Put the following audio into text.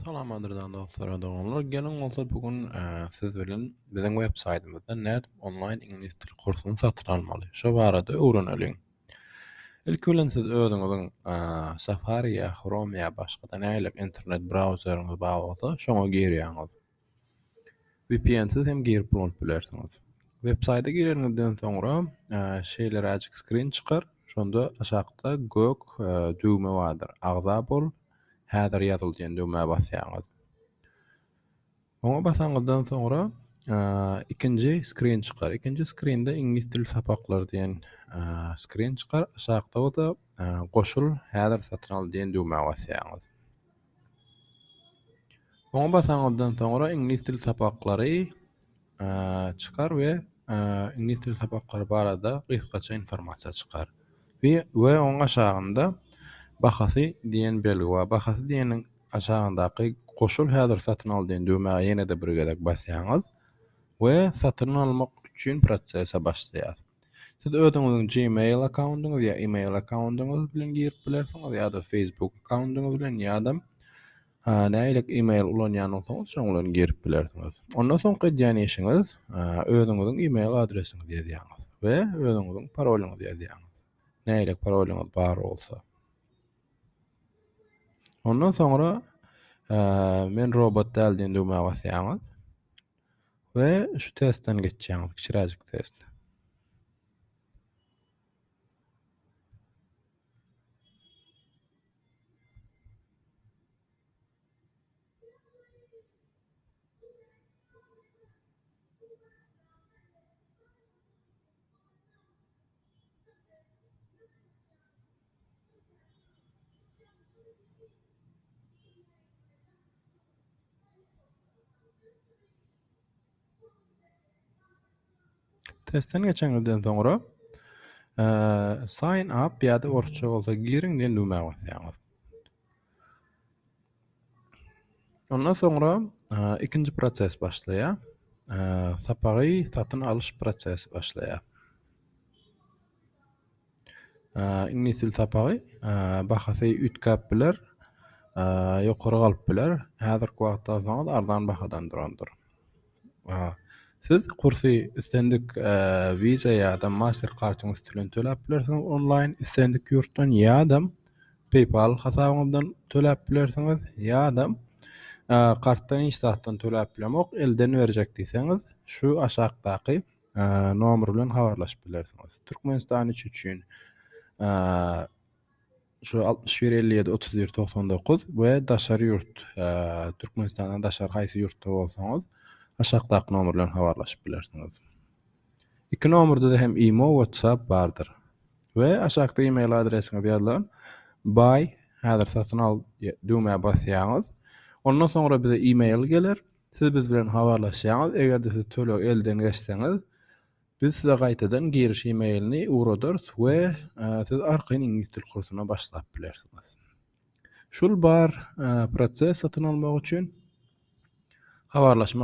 Salam gadyrdan dostlar we doganlar. Geliň bolsa bu gün siz bilen biziň web saýtymyzda nädip onlaýn iňlis dil kursuny satyn almaly? Şo barada öwreneliň. Ilki bilen siz özüňiziň Safari ýa Chrome ýa başga-da nähili internet brauzeriňiz bar bolsa şoňa girýäňiz. Vpnsiz hem girip ulanyp bilersiňiz. Web saýta gireniňizden soňra şeýleräjik skrin çykar. Şonda aşakda gök düwme bardyr. Agza bol, häzir ýazyl diýen düwmä basýaňyz. Oňa basanyňyzdan soňra ikinji skrin çykar. Ikinji skrinde iňlis dili sapaklary diýen skrin çykar. Aşakda bolsa goşul, häzir satyn al diýen düwmä basýaňyz. Oňa basaňyzdan soňra iňlis dili sapaklary çykar we iňlis dili sapaklary barada gysgaça informasiýa çykar. We, we oň aşagynda bahasy diýen belgi bar. Bahasy diýeniň aşagyndaky goşul häzir satyn al diýen düwmä ýene-de bir gezek basýaňyz. we satyn almak üçin prosese başlaýar. Siz özüňiziň Gmail akkaundyňyz ýa email akkaundyňyz bilen girip bilersiňiz ýa-da Facebook akkaundyňyz bilen ýa-da nähilek email ulanýan bolsaňyz şoň bilen girip bilersiňiz. Ondan soňky edýän işiňiz özüňiziň email adresiňizi ýazýaňyz we özüňiziň parolyňyzy ýazýaňyz. Nähilek parolyňyz bar bolsa. Ondan soňra men robot däl diýen düwmä basýaňyz. We şu testden geçýäňiz, kiçiräjik test. Testden geçeňizden soňra e, sign up ýa-da orçça bolsa giriň diýen düwmä basýaňyz. Ondan soňra ikinji proses başlaýar. Sapagy satyn alyş prosesi başlaýar. Iňlis dil sapagy bahasy üýtgäp biler, ýokary galyp biler. Häzirki wagtda alsaňyz arzan bahadan durandyr. Siz kursy islendik Visa ýa-da Master kartyň üsti bilen töläp bilersiňiz onlaýn islendik ýurtdan ýa-da PayPal hasabyňyzdan töläp bilersiňiz ýa-da kartdan hiç zatdan töläp bilemok elden berjek diýseňiz şu aşakdaky nomer bilen habarlaşyp bilersiňiz. Türkmenistan üçin şu altmyş bir elli ýedi otuz bir togsan dokuz we daşary ýurt türkmenistandan daşary haýsy ýurtda bolsaňyz aşakdaky nomer bilen habarlaşyp bilersiňiz iki nomerde de hem imo whatsapp bardyr we aşakda email adresiňiz ýazylan buy häzir satyn al düwmä basýaňyz ondan soňra bize email geler siz biz bilen habarlaşýaňyz eger-de siz töleg elden geçseňiz Biz size gaýtadan giriş e-mailini ugradarys we siz arkaýyn iňlis dil kursyna başlap bilersiňiz. Şul bar proses satyn almak üçin habarlaşmak